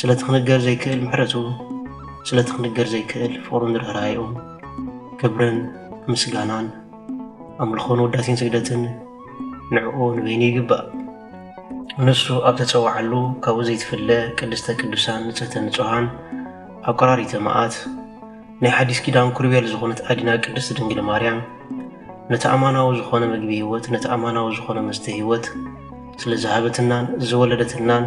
ስለቲ ክንገር ዘይክእል ምሕረቱ ስለቲ ክንገር ዘይክእል ፍቕሩን ርህራሄኡ ክብርን ምስጋናን ኣምልኾን ውዳሴን ስግደትን ንዕኡ ንበይኑ ይግባእ ንሱ ኣብ ተፀዋዓሉ ካብኡ ዘይትፍለ ቅድስተ ቅዱሳን ንፅህተ ንፁሃን ኣቆራሪተ መዓት ናይ ሓዲስ ኪዳን ኩርቤል ዝኾነት ኣዲና ቅድስት ድንግል ማርያም ነቲ ኣማናዊ ዝኾነ ምግቢ ህይወት ነቲ ኣማናዊ ዝኾነ መስተ ህይወት ስለ ዝሃበትናን ዝወለደትልናን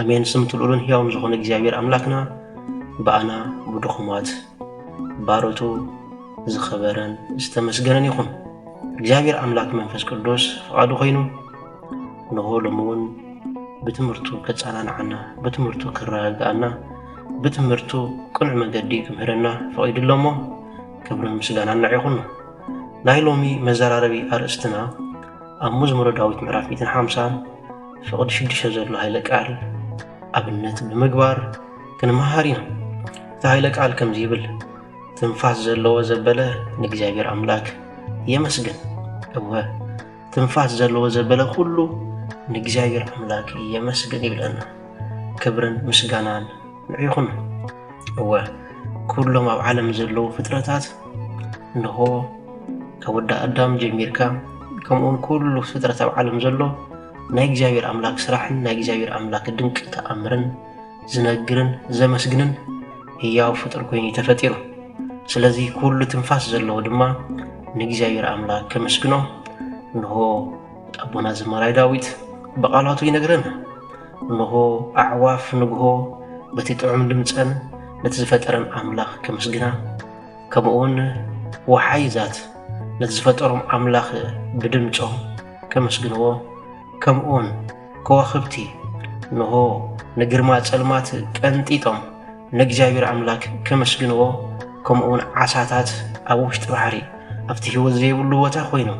ኣሜን ስምቲ ልዑልን ህያውን ዝኾነ እግዚኣብሔር ኣምላክና ብኣና ብድኹማት ባሮቱ ዝኸበረን ዝተመስገነን ይኹን እግዚኣብሔር ኣምላክ መንፈስ ቅዱስ ፍቓዱ ኮይኑ ንሆ ሎሚ እውን ብትምህርቱ ከፃናንዓና ብትምህርቱ ክረጋግኣና ብትምህርቱ ቅኑዕ መገዲ ክምህረና ፈቒዱ ኣሎ እሞ ክብርን ምስጋና ንዕ ይኹኑ ናይ ሎሚ መዘራረቢ ኣርእስትና ኣብ መዝሙረ ዳዊት ምዕራፍ 150 ፍቕድ ሽዱሽተ ዘሎ ሃይለ ቃል ኣብነት ብምግባር ክንመሃር ኢና። እቲ ሃይለ ቃል ከምዚ ይብል፣ ትንፋስ ዘለዎ ዘበለ ንእግዚኣብሔር ኣምላክ የመስግን። እወ ትንፋስ ዘለዎ ዘበለ ኩሉ ንእግዚኣብሔር ኣምላክ የመስግን ይብለና። ክብርን ምስጋናን ንዒኹም እወ ኩሎም ኣብ ዓለም ዘለዉ ፍጥረታት እንሆ ካብ ወዲ ኣዳም ጀሚርካ ከምኡውን ኩሉ ፍጥረት ኣብ ዓለም ዘሎ ናይ እግዚኣብሔር ኣምላክ ስራሕን ናይ እግዚኣብሔር ኣምላክ ድንቂ ተኣምርን ዝነግርን ዘመስግንን ህያው ፍጡር ኮይኑ ተፈጢሩ ስለዚ ኩሉ ትንፋስ ዘለዎ ድማ ንእግዚኣብሔር ኣምላክ ከመስግኖ እንሆ ኣቦና ዘማራይ ዳዊት ብቃላቱ ይነግረና እንሆ፣ ኣዕዋፍ ንግሆ በቲ ጥዑም ድምጸን ነቲ ዝፈጠረን ኣምላኽ ከምስግና፣ ከምኡውን ወሓይዛት ነቲ ዝፈጠሮም ኣምላኽ ብድምጾም ከምስግንዎ፣ ከምኡውን ከዋኽብቲ እንሆ ንግርማ ጸልማት ቀንጢጦም ንእግዚኣብሔር ኣምላክ ከመስግንዎ ከምኡ ውን ዓሳታት ኣብ ውሽጢ ባሕሪ ኣብቲ ህይወት ዘይብሉ ቦታ ኮይኑ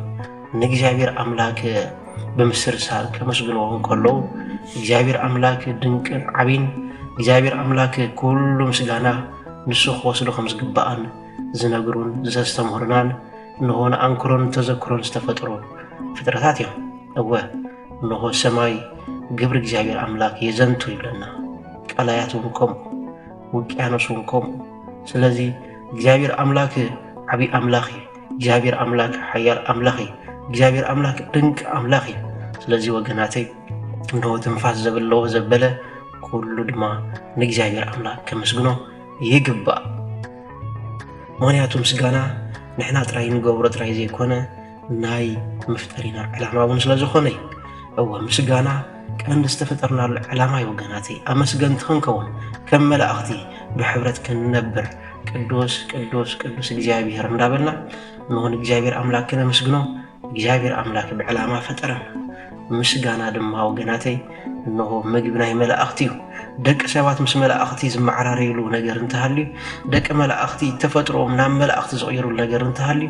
ንእግዚኣብሔር ኣምላክ ብምስርሳር ከመስግንዎ እንከለዉ እግዚኣብሔር ኣምላክ ድንቅን ዓብን እግዚኣብሔር ኣምላክ ኩሉ ምስጋና ንሱ ክወስዶ ከም ዝግባኣን ዝነግሩን ዘስተምህሩናን እንሆ ንኣንክሮን ተዘክሮን ዝተፈጥሩ ፍጥረታት እዮም እወ እነሆ ሰማይ ግብሪ እግዚኣብሔር ኣምላክ የዘንቱ ይብለና። ቀላያት እውን ከምኡ፣ ውቅያኖስ እውን ከምኡ። ስለዚ እግዚኣብሔር ኣምላክ ዓብዪ ኣምላኽ እዩ። እግዚኣብሔር ኣምላክ ሓያል ኣምላኽ እዩ። እግዚኣብሔር ኣምላክ ድንቂ ኣምላኽ እዩ። ስለዚ ወገናተይ እንሆ ትንፋስ ዘብለዎ ዘበለ ኩሉ ድማ ንእግዚኣብሔር ኣምላክ ከመስግኖ ይግባእ። ምክንያቱ ምስጋና ንሕና ጥራይ ንገብሮ ጥራይ ዘይኮነ ናይ መፍጠሪና ዕላማ እውን ስለ ዝኾነ እዩ እወ ምስጋና ቀንዲ ዝተፈጠርናሉ ዕላማ እዩ ወገናተይ ኣመስገንቲ ክንከውን ከም መላእኽቲ ብሕብረት ክንነብር ቅዱስ ቅዱስ ቅዱስ እግዚኣብሔር እንዳበልና ንሆን እግዚኣብሔር ኣምላክ ክነመስግኖ እግዚኣብሔር ኣምላክ ብዕላማ ፈጠረና ምስጋና ድማ ወገናተይ እንሆ ምግቢ ናይ መላእኽቲ እዩ ደቂ ሰባት ምስ መላእኽቲ ዝመዓራረይሉ ነገር እንተሃልዩ ደቂ መላእኽቲ ተፈጥሮኦም ናብ መላእኽቲ ዝቕይሩሉ ነገር እንተሃልዩ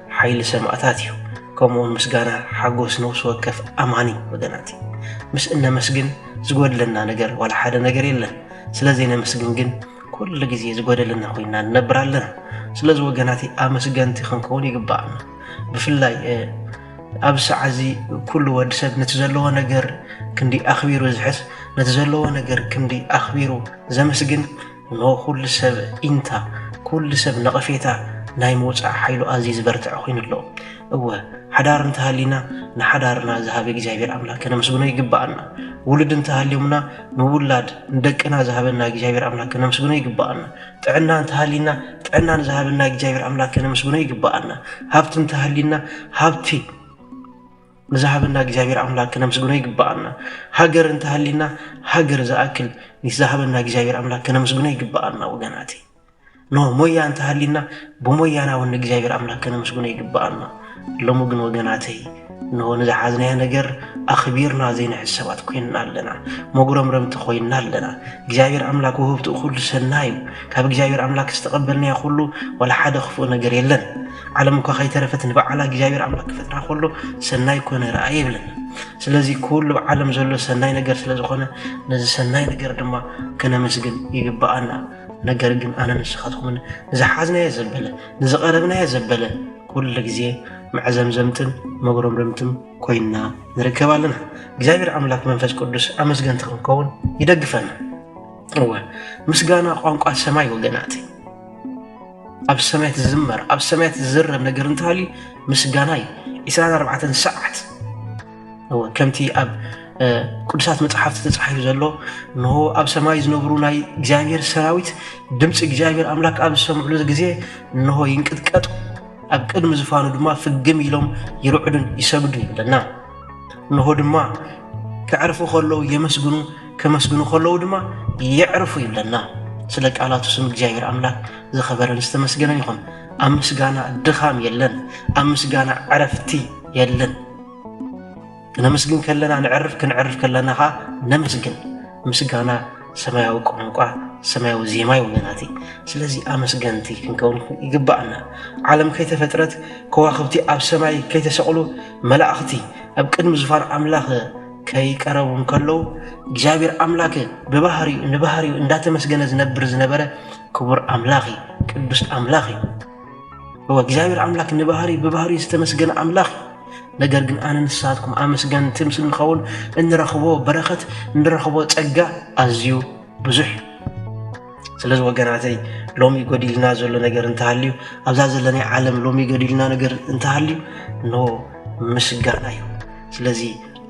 ሓይሊ ሰማእታት እዩ። ከምኡውን ምስጋና ሓጎስ ነውሲ ወከፍ ኣማኒ ወገናት እዩ። ምስ እነመስግን ዝጎድለና ነገር ዋላ ሓደ ነገር የለን። ስለ ዘይነመስግን ግን ኩሉ ግዜ ዝጎደለና ኮይና ንነብር ኣለና። ስለዚ ወገናት ኣመስገንቲ ክንከውን ይግባእና። ብፍላይ ኣብ ሰዓ እዚ ኩሉ ወዲ ሰብ ነቲ ዘለዎ ነገር ክንዲ ኣኽቢሩ ዝሕስ ነቲ ዘለዎ ነገር ክንዲ ኣኽቢሩ ዘመስግን እነሆ ኩሉ ሰብ ጢንታ፣ ኩሉ ሰብ ነቐፌታ ናይ ምውጻእ ሓይሉ ኣዝዩ ዝበርትዐ ኮይኑ ኣሎ። እወ፣ ሓዳር እንተሃልዩና ንሓዳርና ዝሃበ እግዚኣብሔር ኣምላክ ከነመስግኖ ይግባኣና። ውሉድ እንተሃልዮምና ንውላድ ንደቅና ዝሃበና እግዚኣብሔር ኣምላክ ከነመስግኖ ይግባኣና። ጥዕና እንተሃልዩና ጥዕና ንዝሃበና እግዚኣብሔር ኣምላክ ከነመስግኖ ይግባኣና። ሃብቲ እንተሃልዩና ሃብቲ ንዝሃበና እግዚኣብሔር ኣምላክ ክነምስግኖ ይግባኣና ሃገር እንተሃሊና ሃገር ዝኣክል ንዝሃበና እግዚኣብሔር ኣምላክ ክነምስግኖ ይግባኣና ወገናት ኖ ሞያ እንተሃሊና ብሞያና እውን ንእግዚኣብሔር ኣምላክ ክነምስግኖ ይግባኣና ሎሚ ግን ወገናተይ እንሆ ንዝሓዝናዮ ነገር ኣኽቢርና ዘይንሕዝ ሰባት ኮይንና ኣለና መጉረምረምቲ ኮይንና ኣለና እግዚኣብሔር ኣምላክ ውህብትኡ ኩሉ ሰና እዩ ካብ እግዚኣብሔር ኣምላክ ዝተቐበልናዮ ኩሉ ዋላ ሓደ ክፉእ ነገር የለን ዓለም እኳ ከይተረፈት ንበዓላ እግዚኣብሔር ኣምላክ ክፈጥራ ከሎ ሰናይ ኮነ ረኣየ ይብለና ስለዚ ኩሉ ኣብ ዓለም ዘሎ ሰናይ ነገር ስለ ዝኾነ ነዚ ሰናይ ነገር ድማ ከነመስግን ይግብኣና ነገር ግን ኣነ ንስኻትኩምን ንዝሓዝናዮ ዘበለ ንዝቐረብናዮ ዘበለ ኩሉ ግዜ መዕዘምዘምትን መጉረምረምትን ኮይና ንርከብ ኣለና እግዚኣብሔር ኣምላክ መንፈስ ቅዱስ ኣመስገንቲ ክንከውን ይደግፈና እወ ምስጋና ቋንቋ ሰማይ ወገናት ኣብ ሰማያት ዝዝመር ኣብ ሰማያት ዝዝረብ ነገር እንተሃልዩ ምስጋና እዩ ዒስራን ኣርባዕተን ሰዓት እወ ከምቲ ኣብ ቅዱሳት መፅሓፍቲ ተፃሒፉ ዘሎ እንሆ ኣብ ሰማይ ዝነብሩ ናይ እግዚኣብሔር ሰራዊት ድምፂ እግዚኣብሔር ኣምላክ ኣብ ዝሰምዕሉ ግዜ እንሆ ይንቅጥቀጡ ኣብ ቅድሚ ዝፋኑ ድማ ፍግም ኢሎም ይርዕዱን ይሰግዱን ይብለና እንሆ ድማ ከዕርፉ ከለዉ የመስግኑ ከመስግኑ ከለዉ ድማ የዕርፉ ይብለና ስለ ቃላቱ ስም እግዚኣብሔር ኣምላክ ዝኸበረን ዝተመስገነን ይኹን ኣብ ምስጋና ድኻም የለን ኣብ ምስጋና ዕረፍቲ የለን ነመስግን ከለና ንዕርፍ ክንዕርፍ ከለና ኸዓ ነመስግን ምስጋና ሰማያዊ ቋንቋ ሰማያዊ ዜማ እዩ ወገናት ስለዚ ኣመስገንቲ ክንከውን ይግባኣና ዓለም ከይተፈጥረት ከዋኽብቲ ኣብ ሰማይ ከይተሰቕሉ መላእኽቲ ኣብ ቅድሚ ዙፋን ኣምላኽ ከይቀረቡ እንከለዉ እግዚኣብሔር ኣምላክ ብባህሪኡ ንባህሪኡ እንዳተመስገነ ዝነብር ዝነበረ ክቡር ኣምላኽ እዩ ቅዱስ ኣምላኽ እዩ እወ እግዚኣብሔር ኣምላክ ንባህሪ ብባህሪኡ ዝተመስገነ ኣምላኽ እዩ ነገር ግን ኣነ ንስኻትኩም ኣመስገንቲ ምስ እንኸውን እንረኽቦ በረኸት እንረኽቦ ጸጋ ኣዝዩ ብዙሕ ስለዚ ወገናተይ ሎሚ ጎዲልና ዘሎ ነገር እንተሃልዩ ኣብዛ ዘለናይ ዓለም ሎሚ ጎዲልና ነገር እንተሃልዩ ኖ ምስጋና እዩ ስለዚ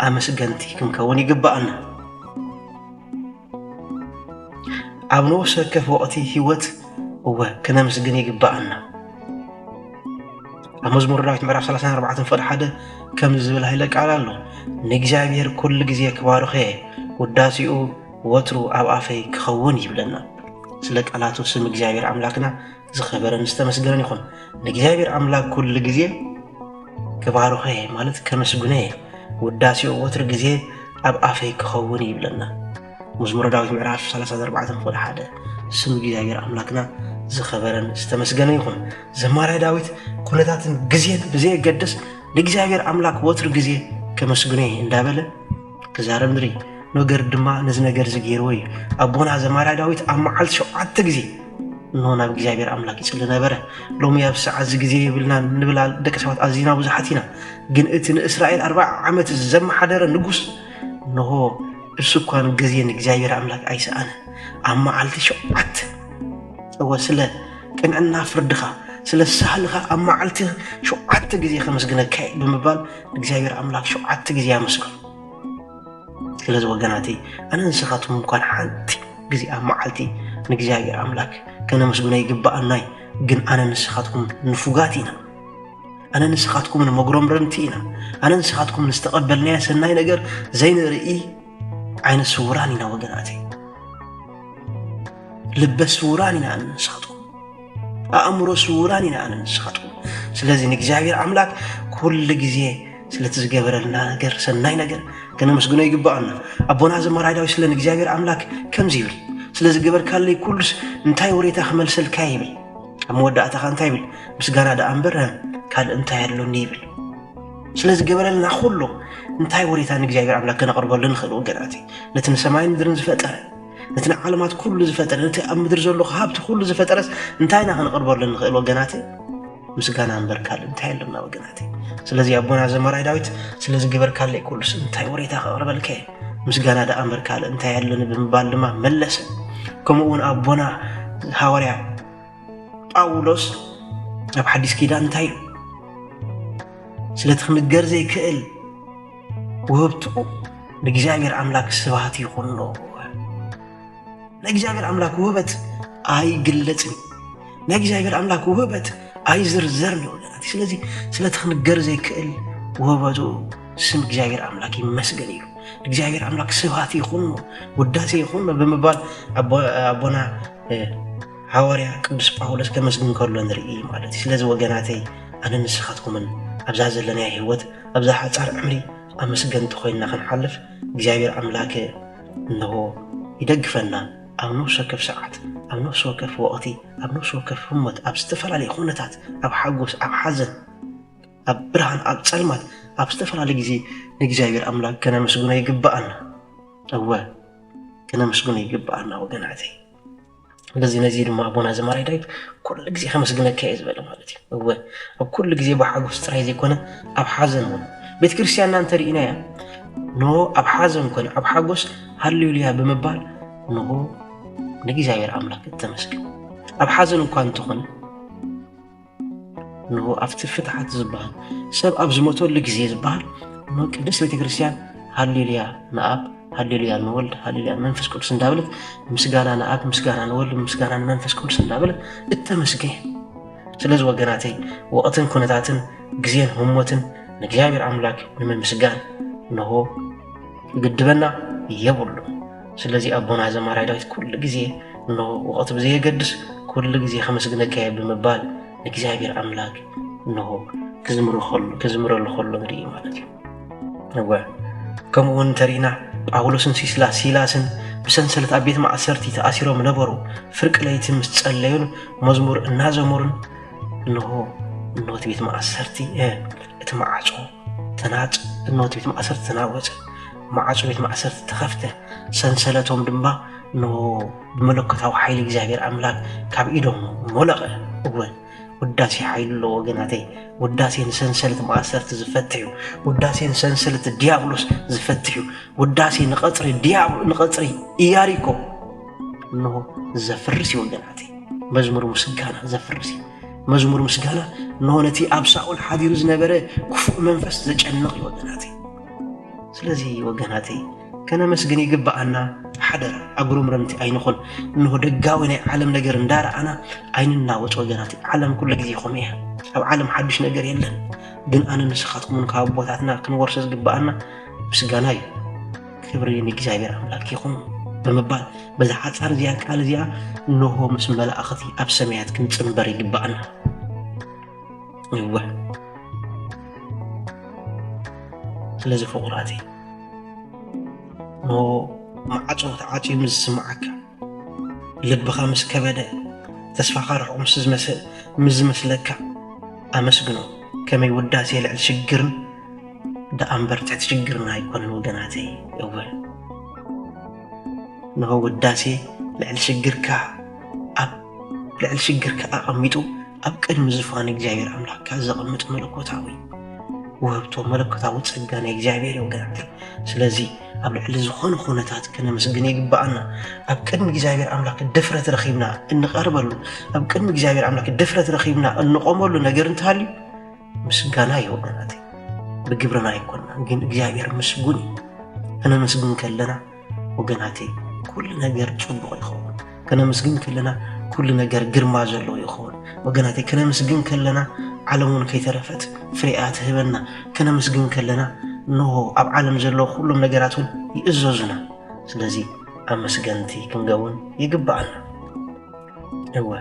ኣመስገንቲ ክንከውን ይግባኣና ኣብ ንኡስ ወከፍ ወቕቲ ህይወት እወ ክነምስግን ይግባኣና ኣብ መዝሙር ዳዊት ምዕራፍ 34 ፍቕዲ ሓደ ከምዚ ዝብል ሃይለ ቃል ኣሎ ንእግዚኣብሔር ኩሉ ግዜ ክባርኸ ውዳሴኡ ወትሩ ኣብ ኣፈይ ክኸውን ይብለና። ስለ ቃላቱ ስም እግዚኣብሔር ኣምላክና ዝኸበረን ዝተመስገነን ይኹን። ንእግዚኣብሔር ኣምላክ ኩሉ ግዜ ክባርኾ እየ ማለት ከመስግኖ እየ። ውዳሴኡ ወትሩ ግዜ ኣብ ኣፈይ ክኸውን ይብለና። መዝሙረ ዳዊት ምዕራፍ 34 ክፍል 1 ስም እግዚኣብሔር ኣምላክና ዝኸበረን ዝተመስገነ ይኹን። ዘማራይ ዳዊት ኩነታትን ግዜን ብዘየገድስ ንእግዚኣብሔር ኣምላክ ወትሩ ግዜ ከመስግኖ እየ እንዳበለ ክዛረብ ንርኢ። ኖገር ድማ ነዚ ነገር እዚ ገይርዎ እዩ። ኣቦና ዘማርያ ዳዊት ኣብ መዓልቲ ሸውዓተ ግዜ እንሆ ናብ እግዚኣብሔር ኣምላክ ይጽሊ ነበረ። ሎሚ ኣብ ሰዓት እዚ ግዜ የብልናን ንብል ደቂ ሰባት ኣዚና ብዙሓት ኢና። ግን እቲ ንእስራኤል ኣርባዓ ዓመት ዘመሓደረ ንጉስ እንሆ እሱ እኳ ግዜ ንእግዚኣብሔር ኣምላክ ኣይሰኣነ ኣብ መዓልቲ ሸውዓተ እወ ስለ ቅንዕና ፍርድኻ ስለ ሳህልኻ ኣብ መዓልቲ ሸውዓተ ግዜ ከመስግነካ ብምባል እግዚኣብሔር ኣምላክ ሸውዓተ ግዜ ኣመስግኑ ስለዚ ወገናተይ ኣነ ንስኻትኩም እንኳን ሓንቲ ግዜ ኣብ መዓልቲ ንእግዚኣብሔር ኣምላክ ከነመስግኖ ይግባኣናይ ግን ኣነ ንስኻትኩም ንፉጋት ኢና ኣነ ንስኻትኩም ንመጉረምረምቲ ኢና ኣነ ንስኻትኩም ንዝተቐበልናዮ ሰናይ ነገር ዘይንርኢ ዓይነ ስውራን ኢና ወገናተይ ልበ ስውራን ኢና ኣነ ንስኻትኩም ኣእምሮ ስውራን ኢና ኣነ ንስኻትኩም ስለዚ ንእግዚኣብሔር ኣምላክ ኩሉ ግዜ ስለቲ ዝገበረልና ነገር ሰናይ ነገር ከነመስግኖ ይግባኣና ኣቦና ዘማራይ ዳዊት ስለ ንእግዚኣብሔር ኣምላክ ከምዚ ይብል ስለ ዝገበርካለይ ኩሉስ እንታይ ወሬታ ክመልሰልካ ይብል ኣብ መወዳእታኻ እንታይ ይብል ምስጋና ደኣ እምበር ካልእ እንታይ ኣሎኒ ይብል ስለ ዝገበረልና ኩሉ እንታይ ወሬታ ንእግዚኣብሔር ኣምላክ ከነቕርበሉ ንኽእል ወገናት ነቲ ንሰማይን ምድርን ዝፈጠረ ነቲ ንዓለማት ኩሉ ዝፈጠረ ነቲ ኣብ ምድሪ ዘሎ ሃብቲ ኩሉ ዝፈጠረስ እንታይ ኢና ክንቕርበሉ ንኽእል ወገናት ምስጋና እምበር ካልእ እንታይ ኣለና ወገናት ስለዚ ኣቦና ዘመራይ ዳዊት ስለዚ ግበርካለይ ኩሉስ እንታይ ወሬታ ከቕርበልከ ምስጋና ደኣ እምበር ካልእ እንታይ ኣለኒ ብምባል ድማ መለሰ ከምኡ እውን ኣቦና ሃዋርያ ጳውሎስ ኣብ ሓዲስ ኪዳን እንታይ እዩ ስለቲ ክምገር ዘይክእል ውህብቱ ንእግዚኣብሔር ኣምላክ ስብሃት ይኹኖ። ናይ እግዚኣብሔር ኣምላክ ውህበት ኣይግለጽን ናይ እግዚኣብሔር ኣምላክ ውህበት ኣይዝርዘርን እዩ ወገናት። ስለዚ ስለቲ ክንገር ዘይክእል ውህበቱ ስም እግዚኣብሔር ኣምላክ ይመስገን እዩ። እግዚኣብሔር ኣምላክ ስብሃት ይኹኖ፣ ውዳሴ ይኹኖ ብምባል ኣቦና ሃዋርያ ቅዱስ ጳውሎስ ከመስግን ከሎ ንርኢ ማለት እዩ። ስለዚ ወገናተይ ኣነ ንስኻትኩምን ኣብዛ ዘለናዮ ህይወት ኣብዛ ሓጻር ዕምሪ ኣመስገንቲ ኮይና ክንሓልፍ እግዚኣብሔር ኣምላክ እነሆ ይደግፈና ኣብ ነፍሲ ወከፍ ሰዓት ኣብ ነፍሲ ወከፍ ወቕቲ ኣብ ነፍሲ ወከፍ ህሞት ኣብ ዝተፈላለየ ኩነታት ኣብ ሓጎስ ኣብ ሓዘን ኣብ ብርሃን ኣብ ጸልማት ኣብ ዝተፈላለየ ግዜ ንእግዚኣብሔር ኣምላክ ከነመስግኖ ይግባኣና እወ ከነመስግኖ ይግባኣና ወገናተይ በዚ ነዚ ድማ ኣቦና ዘማራይ ዳዊት ኩሉ ግዜ ከመስግነካ እየ ዝበለ ማለት እዩ እወ ኣብ ኩሉ ግዜ ብሓጎስ ጥራይ ዘይኮነ ኣብ ሓዘን እውን ቤተ ክርስትያንና እንተርኢናያ ኖ ኣብ ሓዘን ኮነ ኣብ ሓጎስ ሃሌሉያ ብምባል ንሆ ንእግዚኣብሔር ኣምላክ እተመስግን ኣብ ሓዘን እኳ እንተኾነ እንሆ ኣብቲ ፍትሓት ዝበሃል ሰብ ኣብ ዝሞተሉ ግዜ ዝበሃል እንሆ ቅድስት ቤተ ክርስቲያን ሃሌሉያ ንኣብ ሃሌሉያ ንወልድ ሃሌሉያ መንፈስ ቅዱስ እንዳበለት ምስጋና ንኣብ ምስጋና ንወልድ ምስጋና ንመንፈስ ቅዱስ እንዳበለት እተመስገን ስለዚ ወገናተይ ወቕትን ኩነታትን ግዜን ህሞትን ንእግዚኣብሔር ኣምላክ ንምምስጋን እንሆ ግድበና የብሉ ስለዚ ኣቦና ዘማራይ ዳዊት ኩሉ ግዜ እነሆ ወቐት ብዘየገድስ ኩሉ ግዜ ከመስግነካ እየ ብምባል ንእግዚኣብሔር ኣምላክ እነሆ ክዝምረሉ ከሎ ንርኢ ማለት እዩ እወ ከምኡ እውን እንተሪእና ጳውሎስን ሲስላ ሲላስን ብሰንሰለት ኣብ ቤት ማእሰርቲ ተኣሲሮም ነበሩ ፍርቂ ለይቲ ምስ ጸለዩን መዝሙር እናዘመሩን እንሆ እነሆ እቲ ቤት ማእሰርቲ እቲ ማዕፆ ተናጽ እኖት ቤት ማእሰርቲ ተናወጸ፣ ማዕጾ ቤት ማእሰርቲ ተኸፍተ፣ ሰንሰለቶም ድማ ን ብመለኮታዊ ሓይሊ እግዚኣብሔር ኣምላክ ካብ ኢዶም ሞለቐ። እወ ውዳሴ ሓይሉ ኣሎ ወገናተይ። ውዳሴ ንሰንሰለት ማእሰርቲ ዝፈትሕ እዩ። ውዳሴ ንሰንሰለት ዲያብሎስ ዝፈትሕ እዩ። ውዳሴ ንቐጽሪ ዲያብሎ ንቐጽሪ ኢያሪኮ እንሆ ዘፍርስ እዩ ወገናተይ። መዝሙር ምስጋና ዘፍርስ እዩ። መዝሙር ምስጋና እነሆ ነቲ ኣብ ሳኦል ሓዲሩ ዝነበረ ክፉእ መንፈስ ዘጨንቕ እዩ ወገናተይ። ስለዚ ወገናተይ ከነመስግን ይግብኣና። ሓደራ ኣጉረምረምቲ ኣይንኹን። እንሆ ደጋዊ ናይ ዓለም ነገር እንዳረኣና ኣይንናወፅ ወገናት። ዓለም ኩሉ ግዜ ይኹም እያ። ኣብ ዓለም ሓዱሽ ነገር የለን። ግን ኣነ ንስኻትኩምን ካብ ኣቦታትና ክንወርሶ ዝግብኣና ምስጋና እዩ። ክብሪ ንእግዚኣብሔር ኣምላክ ይኹን ብምባል በዛ ሓፃር እዚኣ ቃል እዚኣ እንሆ ምስ መላእኽቲ ኣብ ሰማያት ክንፅምበር ይግባእና እወ ስለዚ ፍቑራት እንሆ ማዕፆ ተዓፅዩ ምስ ዝስምዓካ ልብኻ ምስ ከበደ ተስፋኻ ርሑቕ ምስ ዝመስል ምስ ዝመስለካ ኣመስግኖ ከመይ ውዳሴ ልዕሊ ሽግርን ደኣ እምበር ትሕቲ ሽግርና ኣይኮነን ወገናተይ እወ ንሆ ውዳሴ ልዕሊ ሽግርካ ኣብ ልዕሊ ሽግርካ ኣቐሚጡ ኣብ ቅድሚ ዝፋን እግዚኣብሔር ኣምላክካ ዘቐምጥ መለኮታዊ ውህብቶ መለኮታዊ ጸጋ ናይ እግዚኣብሔር እዩ ወገናት ስለዚ ኣብ ልዕሊ ዝኾነ ኩነታት ክነመስግን ይግባኣና ኣብ ቅድሚ እግዚኣብሔር ኣምላክ ድፍረት ረኺብና እንቐርበሉ ኣብ ቅድሚ እግዚኣብሔር ኣምላክ ድፍረት ረኺብና እንቆመሉ ነገር እንተሃልዩ ምስጋና እዩ ወገናት ብግብርና ኣይኮና ግን እግዚኣብሔር ምስጉን እዩ ከነመስግን ከለና ወገናት ኩሉ ነገር ፅቡቕ ይኸውን ከነምስግን ከለና ኩሉ ነገር ግርማ ዘለዎ ይኸውን ወገናተይ ከነምስግን ከለና ዓለም እውን ከይተረፈት ፍሬኣ ትህበና ከነምስግን ከለና እንሆ ኣብ ዓለም ዘለዎ ኩሎም ነገራት እውን ይእዘዙና ስለዚ ኣመስገንቲ ክንገውን ይግባኣና እወ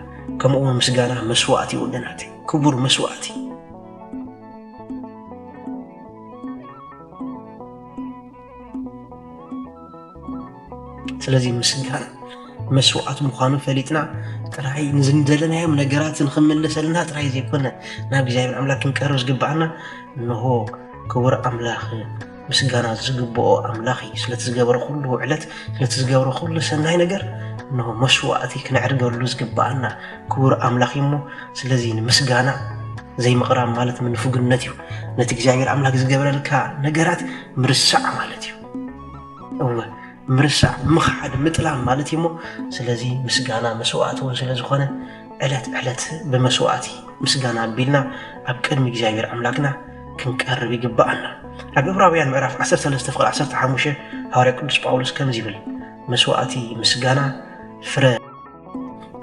ከምኡ እውን ምስጋና መስዋእቲ ወገናት ክቡር መስዋእቲ ስለዚ ምስንካል መስዋዕት ምዃኑ ፈሊጥና ጥራይ ንዝደለናዮም ነገራት ንክምልሰልና ጥራይ ዘይኮነ ናብ እግዚኣብሔር ኣምላክ ክንቀርብ ዝግባኣና እንሆ ክቡር ኣምላኽ ምስጋና ዝግብኦ ኣምላኽ እዩ ስለቲ ዝገበረ ኩሉ ውዕለት ስለቲ ዝገበረ ኩሉ ሰናይ ነገር እንሆ መስዋዕቲ ክነዕርገሉ ዝግባኣና ክቡር ኣምላኽ እዩ እሞ ስለዚ ንምስጋና ዘይምቕራብ ማለት ምንፉግነት እዩ ነቲ እግዚኣብሔር ኣምላክ ዝገበረልካ ነገራት ምርሳዕ ማለት እዩ እወ ምርሳዕ ምኽሓድ ምጥላም ማለት እዩ እሞ ስለዚ ምስጋና መስዋእቲ እውን ስለ ዝኾነ ዕለት ዕለት ብመስዋእቲ ምስጋና ኣቢልና ኣብ ቅድሚ እግዚኣብሔር ኣምላክና ክንቀርብ ይግባኣና ኣብ እብራውያን ምዕራፍ 13 ፍቅሪ 15 ሃዋርያ ቅዱስ ጳውሎስ ከምዚ ይብል መስዋእቲ ምስጋና ፍረ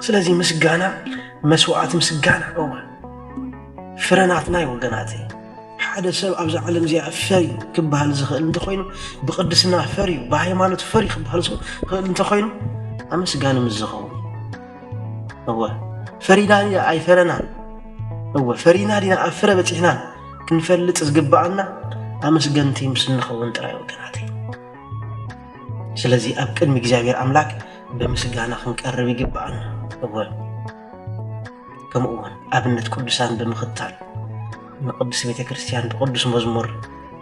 ስለዚ ምስጋና መስዋእቲ ምስጋና እወ ፍረናትና እዩ ወገናት ሓደ ሰብ ኣብዛ ዓለም እዚኣ ፈሪ ክበሃል ዝኽእል እንተኮይኑ ብቅድስና ፈሪ ብሃይማኖት ፈሪ ክበሃል ዝኽእል እንተኮይኑ ኣመስጋኒ ምስ ዝኸውን እወ ፈሪና ድና ኣይፈረናን እወ ፈሪና ድና ኣብ ፍረ በፂሕናን ክንፈልጥ ዝግብኣና ኣመስገንቲ ምስ እንኸውን ጥራይ ወገናት ስለዚ ኣብ ቅድሚ እግዚኣብሔር ኣምላክ ብምስጋና ክንቀርብ ይግብኣና። እወ ከምኡ እውን ኣብነት ቅዱሳን ብምኽታል ንቅድስት ቤተ ክርስቲያን ብቅዱስ መዝሙር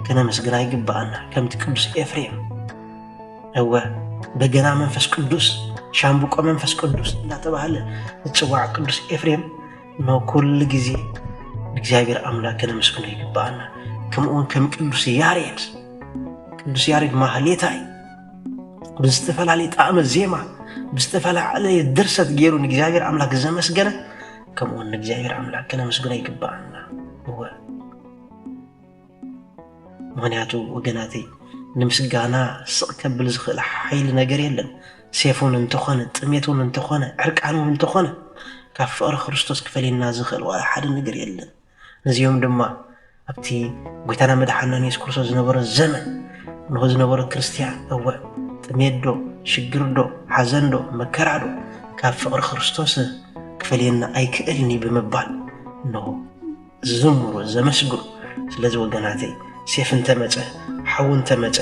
ከነመስግና ይግብኣና ከምቲ ቅዱስ ኤፍሬም እወ በገና መንፈስ ቅዱስ ሻምብቆ መንፈስ ቅዱስ እናተባህለ ዝፅዋዕ ቅዱስ ኤፍሬም ንኩሉ ግዜ እግዚኣብሔር ኣምላክ ከነመስግኖ ይግብኣና ከምኡውን ከም ቅዱስ ያሬድ ቅዱስ ያሬድ ማህሌታይ ብዝተፈላለየ ጣዕመ ዜማ ብዝተፈላለየ ድርሰት ገይሩ ንእግዚኣብሔር ኣምላክ ዘመስገነ ከምኡውን ንእግዚኣብሔር ኣምላክ ክነመስግኖ ይግባኣና እወ ምክንያቱ ወገናተይ ንምስጋና ስቕ ከብል ዝኽእል ሓይሊ ነገር የለን ሴፉን እንተኾነ ጥሜቱን እንተኾነ ዕርቃኑን እንተኾነ ካብ ፍቕሪ ክርስቶስ ክፈልየና ዝኽእል ዋላ ሓደ ነገር የለን ነዚኦም ድማ ኣብቲ ጐይታና መድሓናን የሱስ ክርስቶስ ዝነበረ ዘመን እንሆ ዝነበረ ክርስትያን እወ ጥሜትዶ ሽግርዶ ሓዘንዶ መከራዶ ካብ ፍቕሪ ክርስቶስ ክፈልየና ኣይክእልኒ ብምባል እንሆ ዝዝምሩ ዘመስግኑ ስለዚ ወገናተይ ሴፍ እንተመፀ ሓዊ እንተመፀ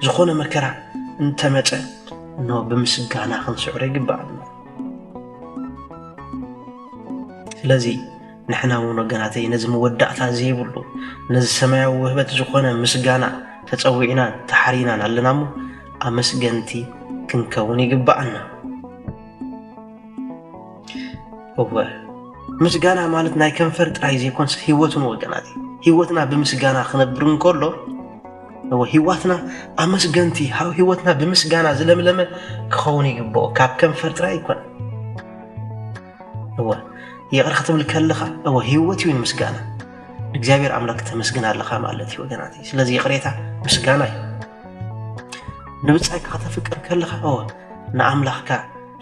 ዝኾነ መከራ እንተመፀ እኖ ብምስጋና ክንስዕሮ ይግባእ ስለዚ ንሕና እውን ወገናተይ ነዚ መወዳእታ ዘይብሉ ነዚ ሰማያዊ ውህበት ዝኾነ ምስጋና ተጸዊዕናን ተሓሪናን ኣለና እሞ ኣመስገንቲ ክንከውን ይግባኣና። እወ ምስጋና ማለት ናይ ከንፈር ጥራይ ዘይኮንስ ህይወትን ወገናት እዩ ህይወትና ብምስጋና ክነብር እንከሎ እወ ህይወትና ኣመስገንቲ ሃብ ህይወትና ብምስጋና ዝለምለመ ክኸውን ይግብኦ ካብ ከንፈር ጥራይ ይኮነ እወ ይቕረ ክትብል ከለኻ እወ ህይወት እዩ ንምስጋና እግዚኣብሔር ኣምላክ ተመስግን ኣለኻ ማለት እዩ ወገናት ስለዚ ይቕሬታ ምስጋና እዩ ንብፃይካ ከተፍቅር ከለኻ እወ ንኣምላኽካ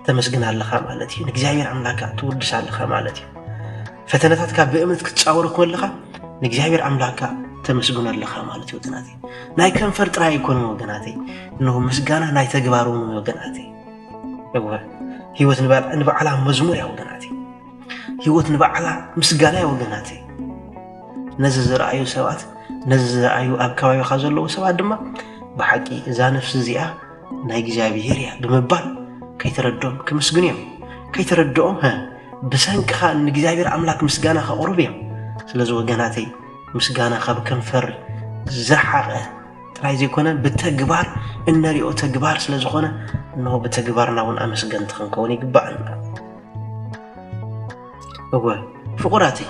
ተመስግን ኣለኻ ማለት እዩ ንእግዚኣብሔር ኣምላካ ትውድስ ኣለኻ ማለት እዩ ፈተነታትካ ብእምነት ክትፃወሮ ከለኻ ንእግዚኣብሔር ኣምላካ ተመስግኖ ኣለኻ ማለት እዩ ወገናት ናይ ከንፈር ጥራይ ኣይኮኑን ወገናተይ እንሆ ምስጋና ናይ ተግባር እውን ወገናተይ እወ ህይወት ንባዕላ መዝሙር እያ ወገናት ህይወት ንባዕላ ምስጋና እያ ወገናት ነዚ ዝረኣዩ ሰባት ነዚ ዝረኣዩ ኣብ ከባቢኻ ዘለዉ ሰባት ድማ ብሓቂ እዛ ነፍሲ እዚኣ ናይ እግዚኣብሄር እያ ብምባል ከይተረድኦም ክምስግኑ እዮም ከይተረድኦም ብሰንክኻ ንእግዚኣብሔር ኣምላክ ምስጋና ከቕርቡ እዮም ስለዚ ወገናተይ ምስጋና ካብ ከንፈር ዝረሓቐ ጥራይ ዘይኮነ ብተግባር እነሪኦ ተግባር ስለ ዝኾነ እነሆ ብተግባርና እውን ኣመስገንቲ ክንከውን ይግባኣና እወ ፍቑራተይ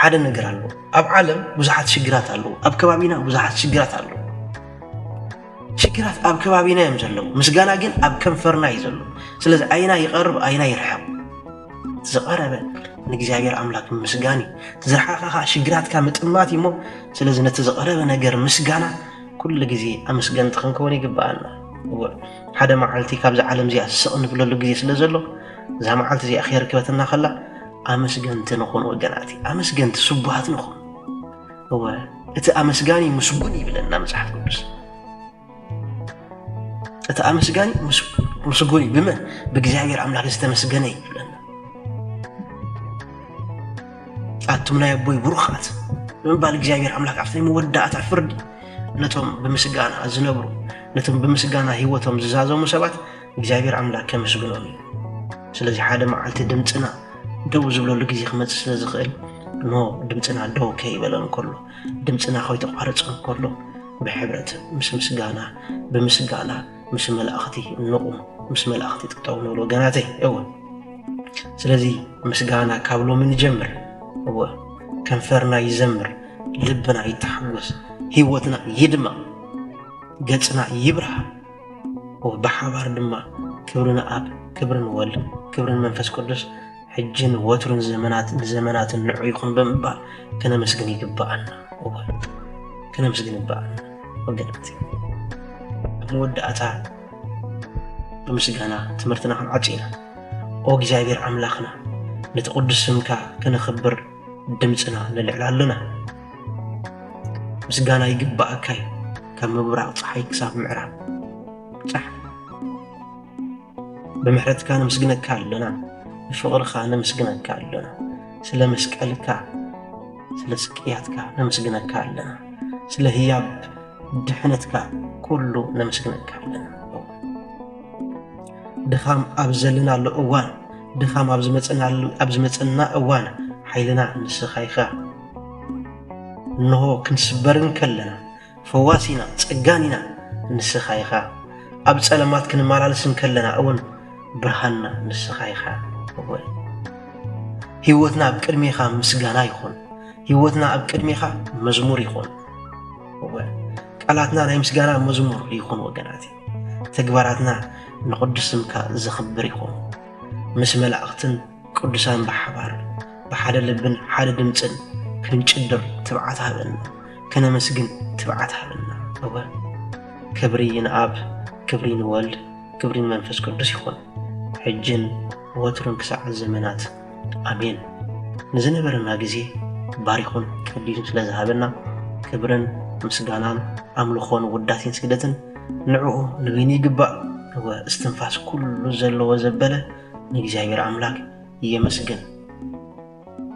ሓደ ነገር ኣሎ ኣብ ዓለም ብዙሓት ሽግራት ኣለዉ ኣብ ከባቢና ብዙሓት ሽግራት ኣለዉ ሽግራት ኣብ ከባቢና እዮም ዘለዉ ምስጋና ግን ኣብ ከንፈርና እዩ ዘሎ ስለዚ ኣይና ይቐርብ ኣይና ይርሕቕ ዝቐረበ ንእግዚኣብሔር ኣምላክ ምስጋን እዩ እቲ ዝረሓቐ ከዓ ሽግራትካ ምጥማት እዩ እሞ ስለዚ ነቲ ዝቐረበ ነገር ምስጋና ኩሉ ግዜ ኣመስገንቲ ክንከውን ይግብኣና እወ ሓደ መዓልቲ ካብዚ ዓለም እዚኣ ስቕ ንብለሉ ግዜ ስለ ዘሎ እዛ መዓልቲ እዚኣ ከየርክበትና ከላ ኣመስገንቲ ንኹን ወገናት ኣመስገንቲ ስቡሃት ንኹን እወ እቲ ኣመስጋኒ ምስጉን ይብለና መፅሓፍ ቅዱስ እቲ ኣመስጋኒ ምስጉን እዩ ብመን ብእግዚኣብሔር ኣምላክ ዝተመስገነ እዩ ይብለና ኣቱም ናይ ኣቦይ ብሩኻት ብምባል እግዚኣብሔር ኣምላክ ኣብቲ ናይ መወዳእታ ፍርዲ ነቶም ብምስጋና ዝነብሩ ነቶም ብምስጋና ህይወቶም ዝዛዘሙ ሰባት እግዚኣብሔር ኣምላክ ከመስግኖም እዩ ስለዚ ሓደ መዓልቲ ድምፅና ደው ዝብለሉ ግዜ ክመፅእ ስለ ዝኽእል ኖ ድምፅና ደው ከይበለን ከሎ ድምጽና ከይተቋረጸ እንከሎ ብሕብረት ምስ ምስጋና ብምስጋና ምስ መላእኽቲ እንቑም ምስ መላእኽቲ ጥጠው ንብል ወገናተይ እወ ስለዚ ምስጋና ካብ ሎሚ ንጀምር እወ ከንፈርና ይዘምር ልብና ይተሓጎስ ህይወትና ይድመቕ ገጽና ይብርሃ ብሓባር ድማ ክብሪ ንኣብ ክብሪ ንወልድ ክብሪ ንመንፈስ ቅዱስ ሕጅን ወትሩን ዘመናት ንዘመናትን ንዑ ይኹን ብምባል ከነመስግን ይግባኣና ከነመስግን ይግባኣና ወገናት ኣብ መወዳእታ ብምስጋና ትምህርትና ክንዓፅ ኢና ኦ እግዚኣብሔር ኣምላኽና ነቲ ቅዱስ ስምካ ከነኽብር ድምፅና ንልዕል ኣለና ምስጋና ይግባኣካይ ካብ ምብራቕ ፀሓይ ክሳብ ምዕራብ ፃሕ ብምሕረትካ ነመስግነካ ኣሎና ብፍቕርኻ ነመስግነካ ኣሎና ስለ መስቀልካ ስለ ስቅያትካ ነመስግነካ ኣለና ስለ ህያብ ድሕነትካ ኩሉ ነመስግነካ ኣለና ድኻም ኣብ ዘለናሉ እዋን ድኻም ኣብ ዝመፅናሉ ኣብ ዝመፅና እዋን ሓይልና ንስኻ ኢኻ እንሆ ክንስበርን ከለና ፈዋሲና ጸጋኒና ንስኻ ኢኻ ኣብ ጸለማት ክንመላለስ እንከለና እውን ብርሃንና ንስኻ ኢኻ እወ ህይወትና ኣብ ቅድሜኻ ምስጋና ይኹን ህይወትና ኣብ ቅድሜኻ መዝሙር ይኹን እወ ቃላትና ናይ ምስጋና መዝሙር ይኹን ወገናት ተግባራትና ንቕዱስ ስምካ ዘኽብር ይኹን ምስ መላእኽትን ቅዱሳን ብሓባር ብሓደ ልብን ሓደ ድምፅን ክንጭድር ትብዓት ሃበና ከነመስግን ትብዓት ሃበና እወ ክብሪ ንኣብ ክብሪ ንወልድ ክብሪ ንመንፈስ ቅዱስ ይኹን ሕጅን ወትሩን ክሳዕ ዘመናት ኣሜን ንዝነበረና ግዜ ባሪኹን ቀዲዱን ስለ ዝሃበና ክብርን ምስጋናን ኣምልኾን ውዳሴን ስግደትን ንዕኡ ንበይኑ ይግባእ እወ እስትንፋስ ኩሉ ዘለዎ ዘበለ ንእግዚኣብሔር ኣምላክ የመስግን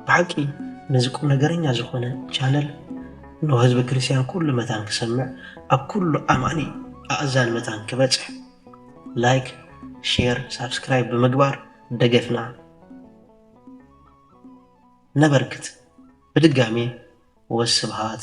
ብሓቂ ነዚ ቁም ነገረኛ ዝኾነ ቻነል እነሆ ህዝበ ክርስቲያን ኩሉ መታን ክሰምዕ ኣብ ኩሉ ኣማኒ ኣእዛን መታን ክበጽሕ ላይክ ሼር ሳብስክራይብ ብምግባር ደገፍና ነበርክት ብድጋሜ ወስብሃት